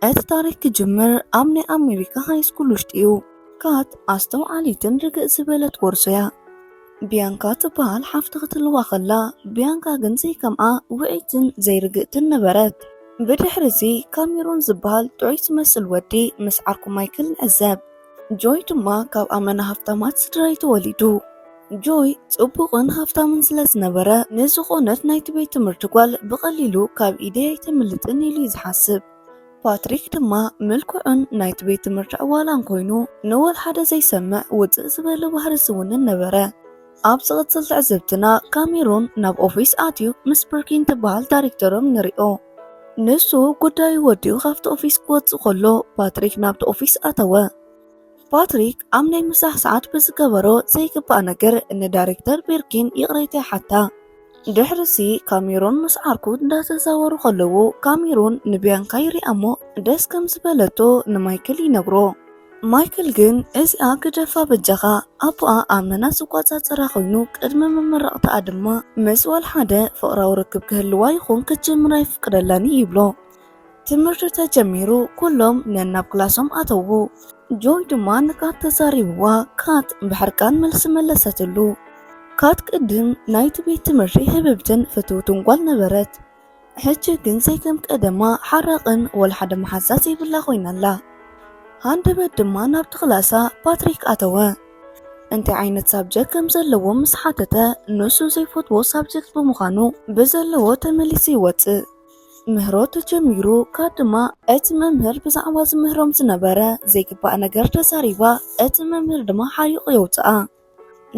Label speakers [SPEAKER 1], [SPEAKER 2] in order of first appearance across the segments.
[SPEAKER 1] እቲ ታሪክ ክጅምር ኣብ ናይ ኣሜሪካ ሃይስኩል ውሽጢ እዩ። ካት ኣስተውዓሊትን ርግእ ዝበለት ጎርዞ እያ። ቢያንካ ትበሃል ሓፍቲ ክትልዋ ከላ ቢያንካ ግን ዘይከምኣ ውዕይትን ዘይርግእትን ነበረት። ብድሕሪ እዚ ካሜሮን ዝበሃል ጥዑይ ዝመስል ወዲ ምስ ዓርኩ ማይክል ንዕዘብ። ጆይ ድማ ካብ ኣመና ሃብታማት ስድራይ ተወሊዱ። ጆይ ጽቡቕን ሃብታምን ስለ ዝነበረ ንዝኾነት ናይቲ ቤት ትምህርቲ ጓል ብቐሊሉ ካብ ኢደይ ኣይተምልጥን ኢሉ እዩ ዝሓስብ። ፓትሪክ ድማ ምልኩዕን ናይቲ ቤት ትምህርቲ ዕዋላን ኮይኑ ንወልሓደ ዘይሰምዕ ውጽእ ዝበለ ባህሪ ዝውንን ነበረ። ኣብ ዝቕጽል ትዕዝብትና ካሜሮን ናብ ኦፊስ ኣትዩ ምስ ብርኪን ትበሃል ዳይሬክተሮም ንሪኦ። ንሱ ጉዳዩ ወዲኡ ካብቲ ኦፊስ ክወጽእ ከሎ ፓትሪክ ናብቲ ኦፊስ ኣተወ። ፓትሪክ ኣብ ናይ ምሳሕ ሰዓት ብዝገበሮ ዘይግባእ ነገር ንዳይሬክተር ቤርኪን ይቕሬታ ይሓታ። ድሕርሲ ካሜሮን ምስ ዓርኩ እንዳተዛወሩ ከለዉ ካሜሮን ንቢያንካ ይሪኣ እሞ ደስ ከም ዝበለቶ ንማይክል ይነግሮ። ማይክል ግን እዚኣ ግደፋ በጃኻ ኣቦኣ ኣብ መና ዝቆጻጸራ ኮይኑ ቅድሚ ምምራቕታኣ ድማ ምስ ወልሓደ ፍቕራዊ ርክብ ክህልዋ ይኹን ክትጅምር ኣይፍቅደላን እዩ ይብሎ። ትምህርቲ ተጀሚሩ ኩሎም ነናብ ክላሶም ኣተዉ። ጆይ ድማ ንካት ተዛሪብዋ ካት ብሕርቃን መልሲ መለሰትሉ። ካት ቅድም ናይቲ ቤት ትምህርቲ ህብብትን ፍትውትን ጓል ነበረት። ሕጂ ግን ዘይከም ቀደማ ሓራቕን ወላ ሓደ መሓዛ ዘይብላ ኮይና ኣላ። ሃንደበት ድማ ናብቲ ክላሳ ፓትሪክ ኣተወ። እንታይ ዓይነት ሳብጀክት ከም ዘለዎ ምስ ሓተተ ንሱ ዘይፈትዎ ሳብጀክት ብምዃኑ ብዘለዎ ተመሊሱ ይወጽእ። ምህሮ ተጀሚሩ ካብ ድማ እቲ መምህር ብዛዕባ ዝምህሮም ዝነበረ ዘይግባእ ነገር ተዛሪባ እቲ መምህር ድማ ሓሪቑ የውጽኣ።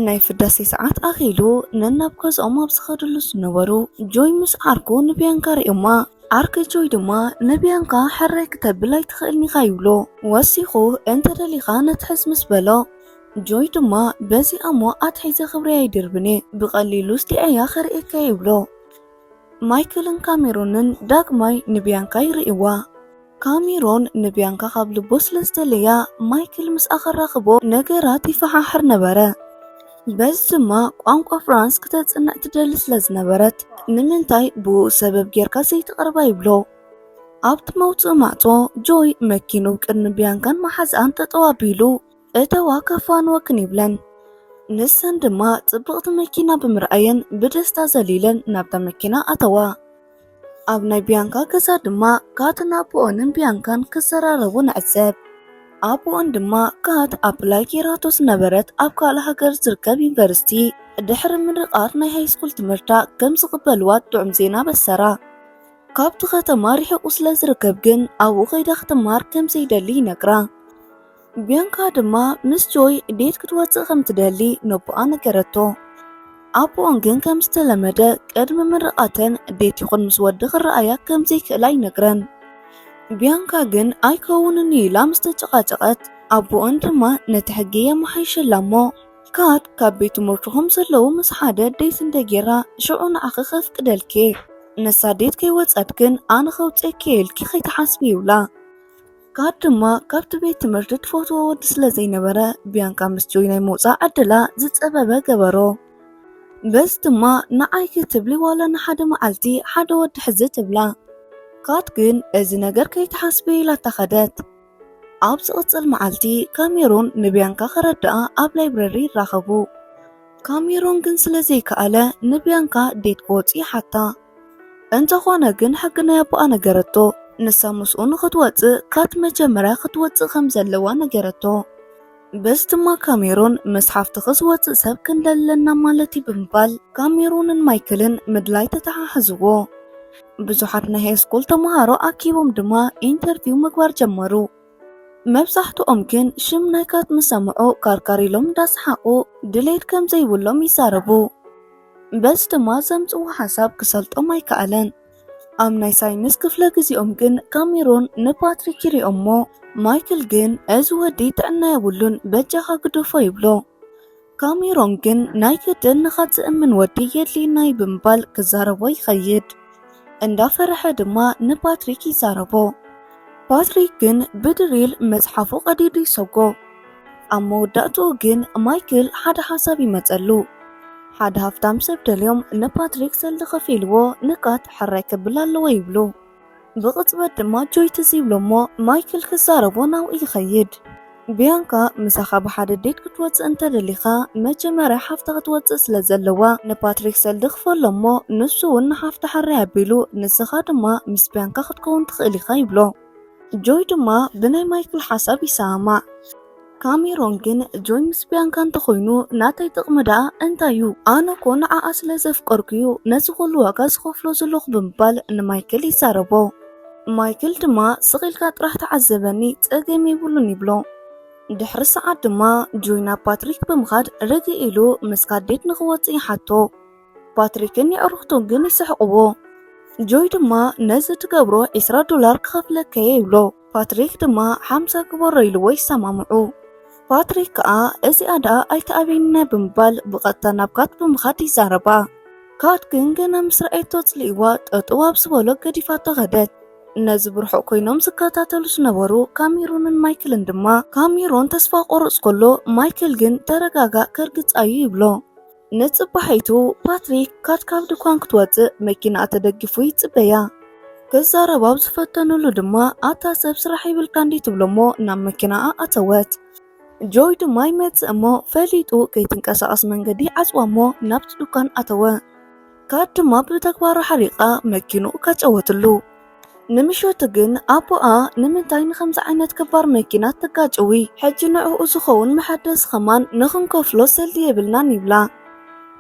[SPEAKER 1] ናይ ፍዳሴ ሰዓት ኣኺሉ ነናብ ገዝኦም ኣብ ዝኸድሉ ዝነበሩ ጆይ ምስ ዓርኩ ንቢያንካ ርእዮማ ዓርኪ ጆይ ድማ ንቢያንካ ሕራይ ክተብል ኣይትኽእልን ኢኻ ይብሎ ወሲኹ እንተደሊኻ ነትሕዝ ምስ በሎ ጆይ ድማ በዚ ኣሞ ኣትሒዘ ክብሪ ኣይድርብን እየ ብቐሊሉ ስዲዐያ ከርእየካ ይብሎ ማይክልን ካሜሮንን ዳግማይ ንቢያንካ ይርእይዋ ካሜሮን ንብያንካ ካብ ልቡ ስለ ዝደለያ፣ ማይክል ምስኣ ከራኽቦ ነገራት ይፈሓሕር ነበረ። በዚ ድማ ቋንቋ ፍራንስ ክተጽንዕ ትደሊ ስለ ዝነበረት፣ ንምንታይ ብእኡ ሰበብ ጌርካ ዘይትቕርባ? ይብሎ። ኣብቲ መውጽኢ ማዕጾ፣ ጆይ መኪንኡ ቅድሚ ብያንካን መሓዝኣን ጠጠው ኣቢሉ፣ እተዋ ከፋንወክን ይብለን። ንሰን ድማ ጽብቕቲ መኪና ብምርኣየን ብደስታ ዘሊለን ናብታ መኪና ኣተዋ። ኣብ ናይ ቢያንካ ገዛ ድማ ካትን ኣቦኦንን ቢያንካን ክዘራረቡ ንዕዘብ። ኣቦኦን ድማ ካት ኣፕላይ ጌራቶ ዝነበረት ኣብ ካልእ ሃገር ዝርከብ ዩኒቨርሲቲ ድሕሪ ምርቓት ናይ ሃይስኩል ትምህርታ ከም ዝቕበልዋ ጥዑም ዜና በሰራ። ካብቲ ከተማ ርሒቑ ስለ ዝርከብ ግን ኣብኡ ከይዳ ክትማር ከም ዘይደሊ ይነግራ። ቢያንካ ድማ ምስ ጆይ ዴት ክትወፅእ ከም ትደሊ ነቦኣ ነገረቶ። ኣቦኦም ግን ከም ዝተለመደ ቅድሚ ምርቓተን ዴት ይኹን ምስ ወዲ ክረኣያ ከም ዘይክእላ ይነግረን። ቢያንካ ግን ኣይከውንን እዩ ኢላ ምስ ተጨቓጨቐት ኣቦኦን ድማ ነቲ ሕጊ የመሓይሸላ እሞ ካድ ካብ ቤት ትምህርቱ ከም ዘለዉ ምስ ሓደ ዴት እንተጌራ ሽዑ ንዓኺ ከፍቅደልኪ እየ ንሳ ዴት ከይወፀት ግን ኣነ ከውፅኣኪ እየ ኢልኪ ከይትሓስቢ ይብላ። ጋድ ድማ ካብቲ ቤት ትምህርቲ ትፈትዎ ወዲ ስለ ዘይነበረ ቢያንካ ምስ ጆይ ናይ ምውፃእ ዕድላ ዝፀበበ ገበሮ በዚ ድማ ንዓይ ክትብሊ ዋላ ንሓደ መዓልቲ ሓደ ወዲ ሕዚ ትብላ ካት ግን እዚ ነገር ከይትሓስቢ ኢላታ ኸደት። ኣብ ዝቕጽል መዓልቲ ካሜሮን ንቢያንካ ከረድኣ ኣብ ላይብረሪ ይራኸቡ። ካሜሮን ግን ስለ ዘይከኣለ ንቢያንካ ዴት ክወጽእ ይሓታ። እንተኾነ ግን ሕጊ ናይ ኣቦኣ ነገረቶ። ንሳ ምስኡ ንኽትወጽእ ካት መጀመርያ ክትወጽእ ከም ዘለዋ ነገረቶ። በዚ ድማ ካሜሮን ምስ ሓፍትኺ ዝወጽእ ሰብ ክንደለና ማለት እዩ ብምባል ካሜሮንን ማይክልን ምድላይ ተተሓሕዝዎ። ብዙሓት ናይ ሃይስኩል ተምሃሮ ኣኪቦም ድማ ኢንተርቪው ምግባር ጀመሩ። መብዛሕትኦም ግን ሽም ናይ ካት ምስ ሰምዑ ካርካር ኢሎም እንዳሰሓቑ ድሌት ከም ዘይብሎም ይዛረቡ። በዚ ድማ ዘምጽዎ ሓሳብ ክሰልጦም ኣይከኣለን። ኣብ ናይ ሳይንስ ክፍለ ግዜኦም ግን ካሜሮን ንፓትሪክ ይሪኦሞ ማይክል ግን እዚ ወዲ ጥዕና የብሉን በጃኻ ግደፎ ይብሎ። ካሜሮን ግን ናይ ግድን ንኻትዝእምን ወዲ የድልየና'ዩ ብምባል ክዛረቦ ይኸይድ። እንዳፈረሐ ድማ ንፓትሪክ ይዛረቦ። ፓትሪክ ግን ብድሪል መጽሓፉ ቀዲዱ ይሰጎ። ኣብ መወዳእትኡ ግን ማይክል ሓደ ሓሳብ ይመጸሉ። ሓደ ሃፍታም ሰብ ደልዮም ንፓትሪክ ሰልዲ ከፊልዎ ንቃት ሕራይ ክብል ኣለዎ ይብሉ። ብቕጽበት ድማ ጆይ ትዝ ይብሎ እሞ ማይክል ክዛረቦ ናብኡ ይኸይድ። ብያንካ ምሳኻ ብሓደ ዴት ክትወጽእ እንተደሊኻ መጀመርያ ሓፍታ ክትወጽእ ስለ ዘለዋ ንፓትሪክ ሰልዲ ክፈሎ እሞ ንሱ ውን ንሓፍታ ሕራይ ኣቢሉ ንስኻ ድማ ምስ ብያንካ ክትከውን ትኽእል ኢኻ ይብሎ። ጆይ ድማ ብናይ ማይክል ሓሳብ ይሰማማዕ። ካሜሮን ግን ጆይ ምስ ብያንካ እንተኾይኑ ናተይ ጥቕሚ ደኣ እንታይ እዩ ኣነ እኮ ንዓኣ ስለ ዘፍቀርኩ እዩ ነዚ ኩሉ ዋጋ ዝኸፍሎ ዘለኹ ብምባል ንማይክል ይዛረቦ። ማይክል ድማ ስቕ ኢልካ ጥራሕ ተዓዘበኒ ጸገም የብሉን ይብሎ። ድሕሪ ሰዓት ድማ ጆይ ናብ ፓትሪክ ብምኻድ ርግእ ኢሉ ምስ ካዴት ንኽወጽእ ይሓቶ። ፓትሪክን የዕሩኽቱን ግን ይስሕቕዎ። ጆይ ድማ ነዚ ትገብሮ ዒስራ ዶላር ክኸፍለከየ ይብሎ። ፓትሪክ ድማ ሓምሳ ግበሮ ኢልዎ ይሰማምዑ። ፓትሪክ ከኣ እዚኣ ደኣ ኣይትኣብየኒና ብምባል ብቐጥታ ናብ ካት ብምኻድ ይዛረባ። ካት ግን ገና ምስ ረኣየቶ ኣጽሊእዋ ጠጠው ኣብ ዝበሎ ገዲፋቶ ከደት። ነዚ ብርሑቕ ኮይኖም ዝከታተሉ ዝነበሩ ካሜሩንን ማይክልን ድማ ካሜሮን ተስፋ ክቖርጽ ከሎ ማይክል ግን ተረጋጋእ ከርግጻ'ዩ ይብሎ። ንጽባሒቱ ፓትሪክ ካት ካብ ድኳን ክትወጽእ መኪናኣ ተደጊፉ ይጽበያ። ክዛረብ ኣብ ዝፈተኑሉ ድማ ኣታ ሰብ ስራሕ ይብልካ እንዲ ትብሎሞ ናብ መኪናኣ ኣተወት። ጆይ ድማ ይመጽእ እሞ ፈሊጡ ከይትንቀሳቐስ መንገዲ ይዓጽዋ እሞ ናብቲ ድኳን ኣተወ። ካት ድማ ብተግባራ ሓሪቓ መኪንኡ ካጨወትሉ። ንምሸቱ ግን ኣቦኣ ንምንታይ ንከምዚ ዓይነት ክባር መኪና ትጋጭዊ ሕጂ ንዕኡ ዝኸውን መሐደስ ኸማን ንኽንከፍሎ ሰልዲ የብልናን ይብላ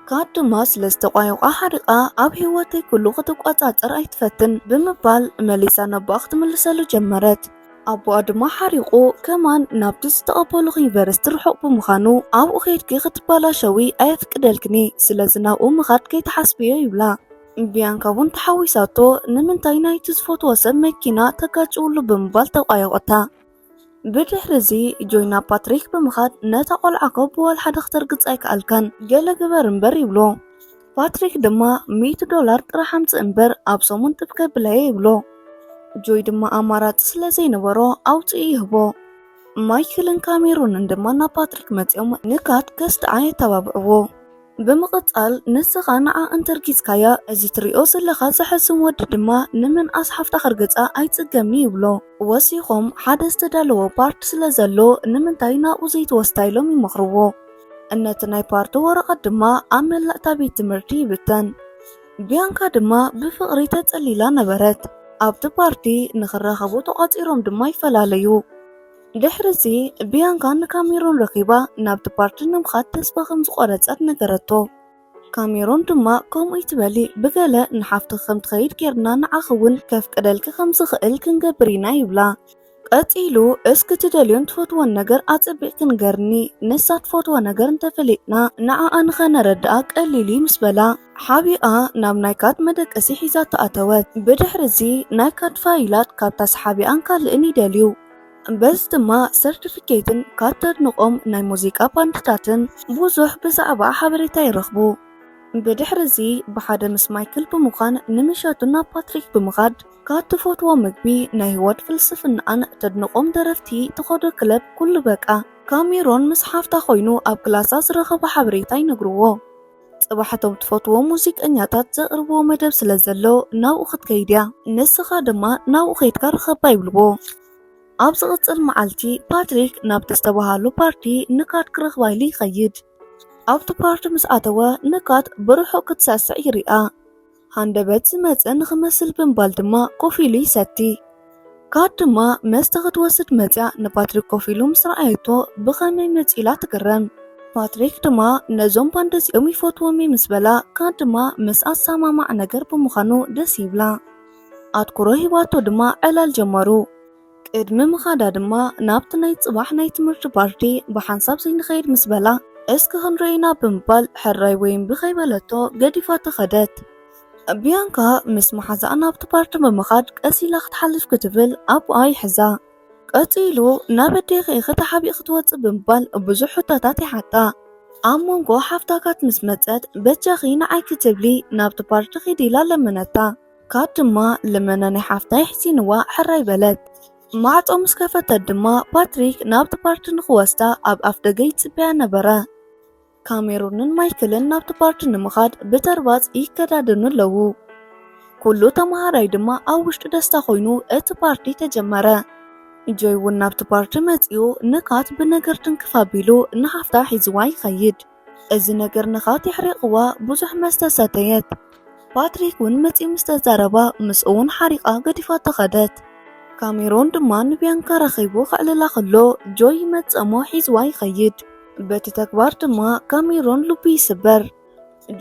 [SPEAKER 1] ካድ ድማ ስለ ዝተቋየቋ ሓሪቓ ኣብ ህይወተይ ኩሉ ክትቋጻጸር ኣይትፈትን ብምባል መሊሳ ነቦኣ ክትምልሰሉ ጀመረት ኣቦኣ ድማ ሓሪቑ ከማን ናብቲ ዝተቐበልኹ ዩኒቨርሲቲ ርሑቕ ብምዃኑ ኣብኡ ከድኪ ክትባላሸዊ ኣየፍቅደልክኒ ስለዚ ናብኡ ምኻድ ከይትሓስብዮ ይብላ ቢያንካ እውን ተሓዊሳቶ ንምንታይ ናይቲ ዝፈትዎ ሰብ መኪና ተጋጭውሉ ብምባል ተቋየቆታ። ብድሕሪ እዚ ጆይና ፓትሪክ ብምኻድ ነታ ቆልዓ እኮ ብዋላ ሓደ ክተርግጽ ኣይከኣልካን ገለ ግበር እምበር ይብሎ። ፓትሪክ ድማ ሚእቲ ዶላር ጥራሕ ኣምጽእ እምበር ኣብ ሰሙን ጥብ ከብላየ ይብሎ። ጆይ ድማ ኣማራጺ ስለ ዘይነበሮ ኣውጽኡ ይህቦ። ማይክልን ካሜሩንን ድማ ናብ ፓትሪክ መጺኦም ንካት ከስትዓ የተባብዕዎ። ብምቕጻል ንስኻ ንዓ እንተርጊጽካያ እዚ ትሪኦ ዘለኻ ዘሕዝን ወዲ ድማ ንምንኣስ ሓፍታ ከርግጻ ኣይጽገምን'ዩ ይብሎ። ወሲኾም ሓደ ዝተዳለወ ፓርት ስለ ዘሎ ንምንታይ ናብኡ ዘይትወስዳ ኢሎም ይመኽርዎ። ነቲ ናይ ፓርት ወረቐት ድማ ኣብ መላእ እታ ቤት ትምህርቲ ይብተን። ቢያንካ ድማ ብፍቕሪ ተጸሊላ ነበረት። ኣብቲ ፓርቲ ንኽራኸቡ ተቋጺሮም ድማ ይፈላለዩ። ድሕርዚ፣ ቢያንካ ንካሜሩን ረኺባ ናብቲ ፓርቲ ንምኻድ ተስፋ ከም ዝቖረጸት ነገረቶ። ካሜሩን ድማ ከምኡ ኣይትበሊ፣ ብገለ ንሓፍትኺ ከም ትኸይድ ጌርና ንዓኺ እውን ከፍቅደልኪ ከም ዝኽእል ክንገብር ኢና ይብላ። ቀጺሉ፣ እስኪ ትደልዮን ትፈትዎን ነገር ኣጸቢቕኪ ንገርኒ፣ ንሳ ትፈትዎ ነገር እንተ ፈሊጥና ንዓኣ ንኸነረድኣ ቀሊል እዩ ምስ በላ፣ ሓቢኣ ናብ ናይ ካርድ መደቀሲ ሒዛቶ ኣተወት። ብድሕሪ እዚ ናይ ካርድ ፋይላት ካብታ ሰሓቢኣን ካልእን ይደልዩ። በዚ ድማ ሰርቲፊኬትን ካብ ተድንቖም ናይ ሙዚቃ ባንድታትን ብዙሕ ብዛዕባኣ ሓበሬታ ይረኽቡ። ብድሕሪ እዚ ብሓደ ምስ ማይክል ብምዃን ንምሸቱ ናብ ፓትሪክ ብምኻድ ካብ ትፈትዎ ምግቢ ናይ ህይወት ፍልስፍናኣን ተድንቖም ደረፍቲ ትኸዶ ክለብ ኩሉ በቃ። ካሜሮን ምስ ሓፍታ ኮይኑ ኣብ ክላሳ ዝረኸቦ ሓበሬታ ይነግርዎ። ጽባሕ እቶም ትፈትዎም ሙዚቀኛታት ዘቕርብዎ መደብ ስለ ዘሎ ናብኡ ክትከይድ እያ፣ ንስኻ ድማ ናብኡ ኬድካ ርኸባ ይብልዎ። ኣብ ዝቕጽል መዓልቲ፣ ፓትሪክ ናብቲ ዝተበሃሎ ፓርቲ ንካት ክረኽባ ኢሉ ይኸይድ። ኣብቲ ፓርቲ ምስ ኣተወ፣ ንካት ብርሑቕ ክትሰዕስዕ ይርኣ። ሃንደበት ዝመጸ ንኽመስል ብምባል ድማ ኮፍ ኢሉ ይሰቲ። ካት ድማ መስተ ክትወስድ መጺኣ ንፓትሪክ ኮፍ ኢሉ ምስ ረኣየቶ ብኸመይ መጺኡ ኢላ ትግረም። ፓትሪክ ድማ ነዞም ባንድ እዚኦም ይፈትዎም እየ ምስ በላ ካት ድማ ምስኣ ዝሰማማዕ ነገር ብምዃኑ ደስ ይብላ። ኣትኩሮ ሂባቶ ድማ ዕላል ጀመሩ። ቅድሚ ምኻዳ ድማ ናብቲ ናይ ጽባሕ ናይ ትምህርቲ ፓርቲ ብሓንሳብ ዘይንኸይድ ምስ በላ እስኪ ክንረይ ኢና ብምባል ሕራይ ወይ እምቢ ከይበለቶ ገዲፋቶ ከደት። ቢያንካ ምስ መሓዛኣ ናብቲ ፓርቲ ብምኻድ ቀስ ኢላ ክትሓልፍ ክትብል ኣቡኣ ይሕዛ። ቀጺሉ ናብ ኣዴኺ ኢኺ ተሓቢእኺ ትወጽእ ብምባል ብዙሕ ሕቶታት ይሓታ። ኣብ መንጎ ሓፍታ ካት ምስ መጸት በጃኺ ንዓይ ክትብሊ ናብቲ ፓርቲ ኺዲ ኢላ ለመነታ። ካብ ድማ ልመና ናይ ሓፍታ ይሕሲንዋ ሕራይ በለት። ማዕጾ ምስ ከፈተት ድማ ፓትሪክ ናብቲ ፓርቲ ንኽወስዳ ኣብ ኣፍ ደገ ይጽበያ ነበረ። ካሜሩንን ማይክልን ናብቲ ፓርቲ ንምኻድ ብተርባጽ ይከዳደኑ ኣለዉ። ኩሉ ተመሃራይ ድማ ኣብ ውሽጡ ደስታ ኮይኑ እቲ ፓርቲ ተጀመረ። ጆይ እውን ናብቲ ፓርቲ መጺኡ ንካት ብነገር ትንክፍ ኣቢሉ ንሓፍታ ሒዝዋ ይኸይድ። እዚ ነገር ንኻት የሕሪቕዋ ብዙሕ መስተ ሰተየት። ፓትሪክ እውን መጺኡ ምስ ተዛረባ ምስ እውን ሓሪቓ ገዲፋ ተኸደት። ካሜሮን ድማ ንቢያንካ ረኺቡ ከዕልላ ከሎ ጆይ ይመጽእ እሞ ሒዝዋ ይኸይድ። በቲ ተግባር ድማ ካሜሮን ልቡ ይስበር።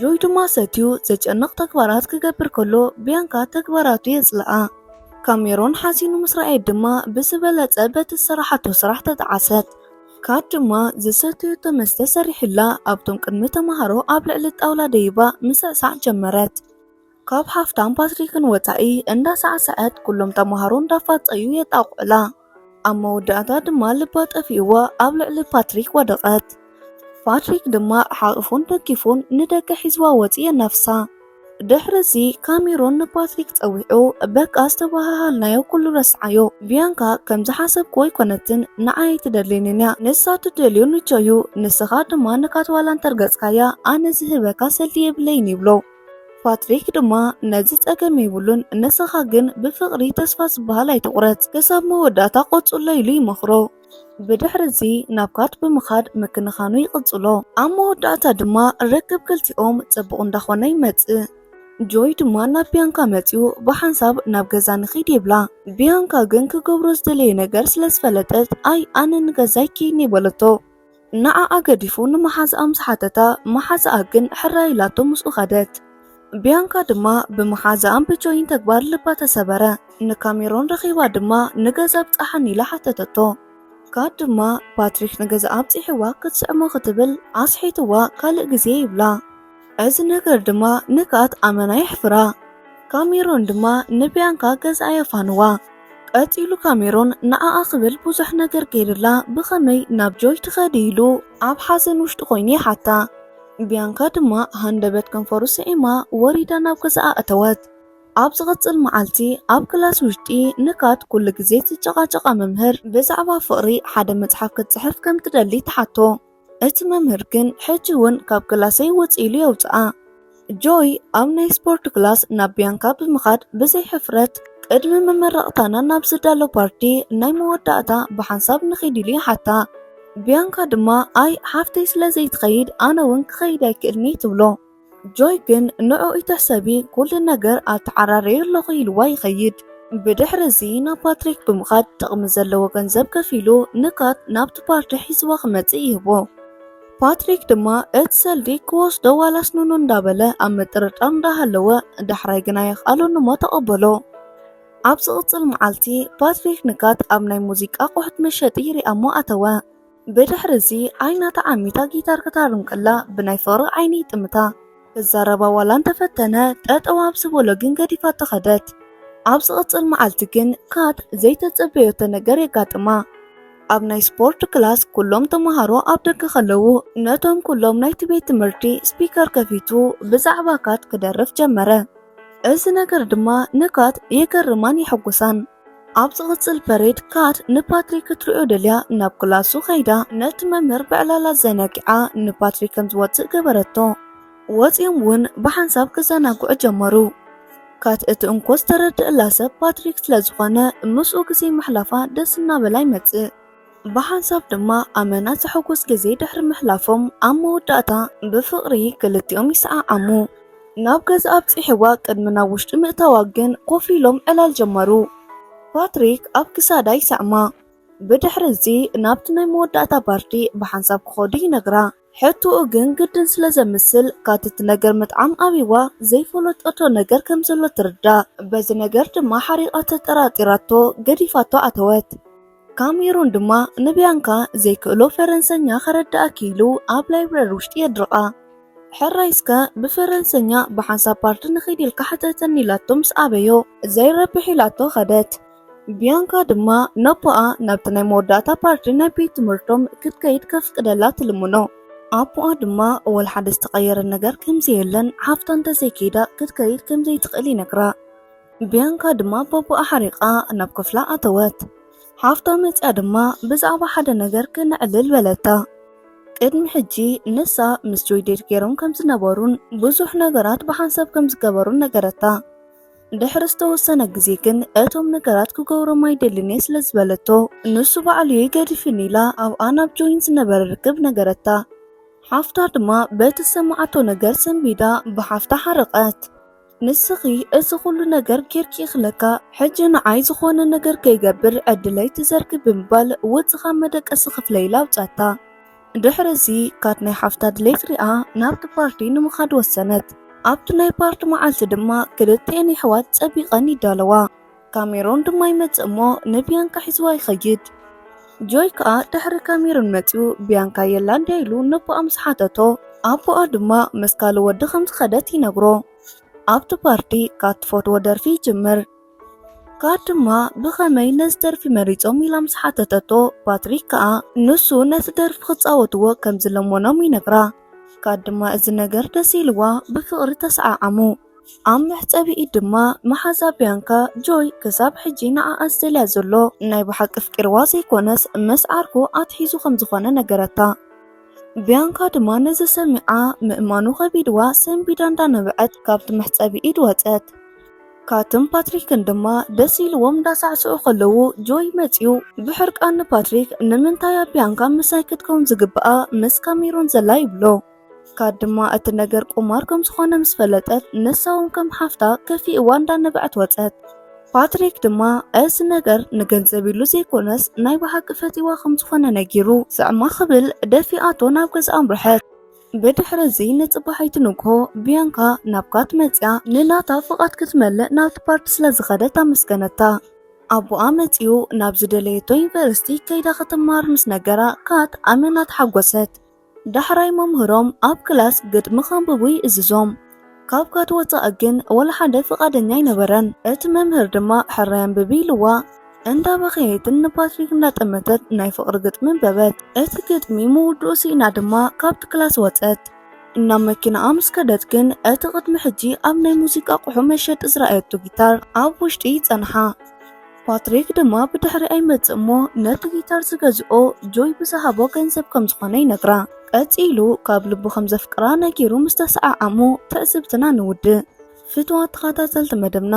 [SPEAKER 1] ጆይ ድማ ሰትዩ ዘጨንቕ ተግባራት ክገብር ከሎ ቢያንካ ተግባራቱ የጽልኣ። ካሜሮን ሓዚኑ ምስ ረኣየት ድማ ብዝበለጸ በቲ ዝሰራሓቶ ስራሕ ተጣዓሰት። ካድ ድማ ዝሰተየቶ መስተ ሰሪሑላ ኣብቶም ቅድሚ ተምሃሮ ኣብ ልዕሊ ጣውላ ደይባ ምሰዕሳዕ ጀመረት። ካብ ሃፍታም ፓትሪክን ወፃኢ እንዳሳዕሰዐት ኩሎም ተምሃሮ እንዳፋፀዩ የጣቕዑላ። ኣብ መወዳእታ ድማ ልባ ጠፊእዋ ኣብ ልዕሊ ፓትሪክ ወደቐት። ፓትሪክ ድማ ሓቕፉን ደጊፉን ንደገ ሒዝዋ ወፂኡ የናፍሳ። ድሕርዚ ካሜሩን ንፓትሪክ ጸዊዑ በቃ ዝተበሃሃልናዮ ኩሉ ረስዓዮ፣ ቢያንካ ከም ዝሓሰብክዎ ኣይኮነትን፣ ንዓይ ኣይትደልየንን እያ፣ ንሳ እትደልዮ ንቾ እዩ፣ ንስኻ ድማ ንካትዋላ እንተርገጽካያ ኣነ ዝህበካ ሰልዲ የብለይን ይብሎ። ፓትሪክ ድማ ነዚ ጸገም የብሉን፣ ንስኻ ግን ብፍቕሪ ተስፋ ዝበሃል ኣይትቑረጽ፣ ክሳብ መወዳእታ ቆጽሎ ኢሉ ይመኽሮ። ብድሕሪ እዚ ናብ ካት ብምኻድ ምክንኻኑ ይቕጽሎ ኣብ መወዳእታ ድማ ርክብ ክልቲኦም ጽቡቕ እንዳኾነ ይመጽእ ጆይ ድማ ናብ ቢያንካ መጺኡ ብሓንሳብ ናብ ገዛ ንኺድ ይብላ። ቢያንካ ግን ክገብሮ ዝደለየ ነገር ስለ ዝፈለጠት ኣይ ኣነ ንገዛይ ኪይኒ በለቶ። ንዓኣ ገዲፉ ንመሓዝኣ ምስ ሓተታ መሓዝኣ ግን ሕራይ ኢላቶ ምስኡ ከደት። ቢያንካ ድማ ብመሓዝኣን ብጆይን ተግባር ልባ ተሰበረ። ንካሜሮን ረኺባ ድማ ንገዛ ኣብጽሓኒ ኢላ ሓተተቶ። ካት ድማ ፓትሪክ ንገዛ ኣብጺሕዋ ክትስዕሞ ክትብል ኣስሒትዋ ካልእ ግዜ ይብላ። እዚ ነገር ድማ ንካት ኣመና የሕፍራ። ካሜሮን ድማ ንቢያንካ ገዛ የፋንዋ። ቀጺሉ ካሜሮን ንዓኣ ክብል ብዙሕ ነገር ገይርላ ብኸመይ ናብ ጆይ ትኸዲ ኢሉ ኣብ ሓዘን ውሽጢ ኮይኑ ይሓታ። ቢያንካ ድማ ሃንደበት ከንፈሩ ስዒማ ወሪዳ ናብ ገዛኣ ኣተወት። ኣብ ዝቕጽል መዓልቲ ኣብ ክላስ ውሽጢ ንካት ኩሉ ግዜ ዝጨቓጨቓ መምህር ብዛዕባ ፍቕሪ ሓደ መጽሓፍ ክትጽሕፍ ከም ትደሊ ትሓቶ። እቲ መምህር ግን ሕጂ እውን ካብ ክላሰይ ውጽእ ኢሉ የውጽኣ። ጆይ ኣብ ናይ ስፖርት ክላስ ናብ ቢያንካ ብምኻድ ብዘይ ሕፍረት ቅድሚ መመረቕታና ናብ ዝዳሎ ፓርቲ ናይ መወዳእታ ብሓንሳብ ንኺድ ኢሉ ይሓታ። ቢያንካ ድማ ኣይ ሓፍተይ ስለ ዘይትኸይድ ኣነ እውን ክኸይድ ኣይክእልን'የ ትብሎ። ጆይ ግን ንዕኡይ ተሰቢ ኩሉ ነገር ኣተዓራርየ ኣለኹ ኢልዋ ይኸይድ። ብድሕሪ እዚ ናብ ፓትሪክ ብምኻድ ጥቕሚ ዘለዎ ገንዘብ ከፊሉ ንካት ናብቲ ፓርቲ ሒዝዋ ክመጽእ ይህቦ። ፓትሪክ ድማ እቲ ሰልዲ ክወስዶ ዋላስ ኑኑ እንዳበለ ኣብ ምጥርጣር እንዳሃለወ ዳሕራይ ግና የኽኣለኑሞ ተቐበሎ። ኣብ ዝቕጽል መዓልቲ ፓትሪክ ንካት ኣብ ናይ ሙዚቃ ኣቑሑት መሸጢ ይሪኣሞ ኣተወ። ብድሕሪ እዚ ዓይና ተዓሚታ ጊታር ክታርም ከላ ብናይ ፍቕሪ ዓይኒ ይጥምታ ክዛረባ ዋላ እንተፈተነ ጠጠው ኣብ ዝበሎ ግን ገዲፋ ተኸደት። ኣብ ዝቕፅል መዓልቲ ግን ካት ዘይተፀበዮቶ ነገር የጋጥማ። ኣብ ናይ ስፖርት ክላስ ኩሎም ተምሃሮ ኣብ ደገ ከለዉ ነቶም ኩሎም ናይቲ ቤት ትምህርቲ ስፒከር ከፊቱ ብዛዕባ ካት ክደርፍ ጀመረ። እዚ ነገር ድማ ንካት የገርማን የሐጉሳን። ኣብ ዝቕጽል ፐሬድ ካት ንፓትሪክ ክትሪኦ ደልያ ናብ ክላሱ ከይዳ ነቲ መምህር ብዕላላ ዘነጊዓ ንፓትሪክ ከም ዝወጽእ ገበረቶ ወጺኦም እውን ብሓንሳብ ክዘናግዑ ጀመሩ ካት እቲ እንኮ ዝተረድእላ ሰብ ፓትሪክ ስለ ዝኾነ ምስኡ ግዜ ምሕላፋ ደስ እናበላ ይመጽእ ብሓንሳብ ድማ ኣመና ዘሐጉስ ግዜ ድሕሪ ምሕላፎም ኣብ መወዳእታ ብፍቕሪ ክልቲኦም ይሰዓዓሙ። ናብ ገዛ ኣብጺሕዋ ቅድሚ ናብ ውሽጢ ምእታዋ ግን ኮፍ ኢሎም ዕላል ጀመሩ። ፓትሪክ ኣብ ክሳዳ ይሰዕማ። ብድሕሪ እዚ ናብቲ ናይ መወዳእታ ፓርቲ ብሓንሳብ ክኸዱ ይነግራ። ሕቶኡ ግን ግድን ስለ ዘምስል ካቲ እቲ ነገር ምጥዓም ኣብይዋ ዘይፈለጠቶ ነገር ከም ዘሎ ትርዳእ። በዚ ነገር ድማ ሓሪቓ ተጠራጢራቶ ገዲፋቶ ኣተወት። ካሜሩን ድማ ንቢያንካ ዘይክእሎ ፈረንሰኛ ከረዳኣኪ ኢሉ ኣብ ላይብረሪ ውሽጢ የድርቓ። ሕራይ እስከ ብፈረንሰኛ ብሓንሳብ ፓርቲ ንኺድ ኢልካ ሕተተኒ ኢላቶ ምስ ኣበዮ ዘይረብሕ ኢላቶ ከደት። ቢያንካ ድማ ነቦኣ ናብቲ ናይ መወዳእታ ፓርቲ ናይ ቤት ትምህርቶም ክትከይድ ከፍቅደላ ትልምኖ። ኣቦኣ ድማ ወላ ሓደ ዝተቐየረ ነገር ከምዘየለን ሓፍታ እንተዘይከይዳ ክትከይድ ከምዘይትኽእል ይነግራ። ብያንካ ድማ ቦቦኣ ሓሪቓ ናብ ክፍላ ኣተወት። ሓፍታ መጽያ ድማ ብዛዕባ ሓደ ነገር ክነዕልል በለታ። ቅድሚ ሕጂ ንሳ ምስ ጆይ ዴት ገይሮም ከም ዝነበሩን ብዙሕ ነገራት ብሓንሳብ ከም ዝገበሩን ነገረታ። ድሕሪ ዝተወሰነ ግዜ ግን እቶም ነገራት ክገብሮም ኣይደልን እየ ስለ ዝበለቶ ንሱ ባዕሉ እየ ገዲፍኒ ኢላ ኣብኣ ናብ ጆይን ዝነበረ ርክብ ነገረታ ሓፍታ ድማ በቲ ዝሰማዓቶ ነገር ሰንቢዳ ብሓፍታ ሓረቐት ንስኺ እዚ ኩሉ ነገር ጌርኪ እኽለካ ሕጂ ንዓይ ዝኾነ ነገር ከይገብር ዕድለይ ትዘርጊ ብምባል ውጽእ ካብ መደቀሲ ክፍለይ ኢላ ኣውጻታ። ድሕሪ እዚ ካት ናይ ሓፍታ ድሌት ሪኣ ናብቲ ፓርቲ ንምኻድ ወሰነት። ኣብቲ ናይ ፓርቲ መዓልቲ ድማ ክልቲኤን የሕዋት ጸቢቐን ይዳለዋ። ካሜሮን ድማ ይመጽእ እሞ ንቢያንካ ሒዝዋ ይኸይድ። ጆይ ከኣ ድሕሪ ካሜሮን መጺኡ ቢያንካ የላ እንድያ ኢሉ ነቦኣ ምስ ሓተቶ ኣቦኣ ድማ ምስ ካልእ ወዲ ከም ዝኸደት ይነግሮ። ኣብቲ ፓርቲ ካብ ትፈትዎ ደርፊ ይጅምር። ካት ድማ ብኸመይ ነዚ ደርፊ መሪጾም ኢላ ምስ ሓተተቶ ፓትሪክ ከኣ ንሱ ነቲ ደርፊ ክጻወትዎ ከም ዝለመኖም ይነግራ። ካት ድማ እዚ ነገር ደስ ኢልዋ ብፍቕሪ ተሰዓዓሙ። ኣብ መሕጸቢ ኢድ ድማ መሓዛ ቢያንካ ጆይ ክሳብ ሕጂ ንዓኣ ዝደልያ ዘሎ ናይ ብሓቂ ኣፍቂርዋ ዘይኮነስ ምስ ዓርኩ ኣትሒዙ ከም ዝኾነ ነገረታ። ቢያንካ ድማ ነዚ ሰሚዓ ምእማኑ ከቢድዋ ሰንቢዳ እንዳነበዐት ካብቲ መሕጸቢ ኢድ ወጸት። ካትን ፓትሪክን ድማ ደስ ኢልዎም እንዳሳዕስዑ ከለዉ ጆይ መጽዩ ብሕርቃን ንፓትሪክ ንምንታይ ኣብ ቢያንካ ምሳይ ክትከውን ዝግብኣ ምስ ካሜሮን ዘላ ይብሎ። ካድ ድማ እቲ ነገር ቁማር ከም ዝኾነ ምስ ፈለጠት ንሳውን ከም ሓፍታ ከፊእዋ እንዳነበዐት ወጸት። ፓትሪክ ድማ እዚ ነገር ንገንዘብ ኢሉ ዘይኮነስ ናይ ብሓቂ ፈቲዋ ከም ዝኾነ ነጊሩ ስዕማ ክብል ደፊኣቶ ናብ ገዛ ኣምርሐት። ብድሕሪ እዚ ንጽባሒቲ ንግሆ ቢያንካ ናብ ካት መጽያ ንናታ ፍቓድ ክትመልእ ናብቲ ፓርቲ ስለ ዝኸደት ኣመስገነታ። ኣቦኣ መጺኡ ናብ ዝደለየቶ ዩኒቨርሲቲ ከይዳ ክትመሃር ምስ ነገራ ካት ኣመና ተሓጎሰት። ዳሕራይ መምህሮም ኣብ ክላስ ግጥሚ ከንብቡ ይእዝዞም። ካብ ካት ወጻኢ ግን ወላ ሓደ ፍቓደኛ ኣይነበረን። እቲ መምህር ድማ ሕራይ ኣንብቢ ኢልዋ። እንዳበኸየትን ንፓትሪክ እንዳጠመተት ናይ ፍቕሪ ግጥሚ ኣንበበት። እቲ ግጥሚ ምውድኡ ስኢና ድማ ካብቲ ክላስ ወጸት። ናብ መኪናኣ ምስ ከደት ግን እቲ ቅድሚ ሕጂ ኣብ ናይ ሙዚቃ ኣቑሑ መሸጢ ዝረኣየቶ ጊታር ኣብ ውሽጢ ጸንሓ። ፓትሪክ ድማ ብድሕሪ ኣይመጽእ እሞ ነቲ ጊታር ዝገዝኦ ጆይ ብዝሃቦ ገንዘብ ከም ዝኾነ ይነግራ። ቀጺሉ ካብ ልቡ ከም ዘፍቅራ ነጊሩ ምስ ተሰዓዓሙ ትዕዝብትና ንውድእ። ፍትዋት ተኸታተልቲ መደብና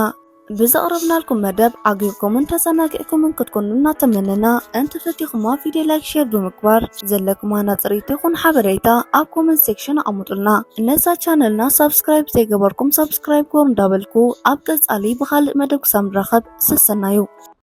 [SPEAKER 1] ብዘቕረብናልኩም መደብ ዓጊብኩምን ተዘናጊዕኩምን ክትኮኑ እናተመነና እንተፈቲኹማ ቪድዮ ላይክ ሼር ብምግባር ዘለኩም ሃናጽሪት ይኹን ሓበሬታ ኣብ ኮመንት ሴክሽን ኣቐምጡልና። ነዛ ቻነልና ሳብስክራይብ ዘይገበርኩም ሳብስክራይብ ሳብስክራይብ ኮር እንዳበልኩ ኣብ ቀፃሊ ብኻልእ መደብ ክሳብ ንራኸብ ሰሰናዩ።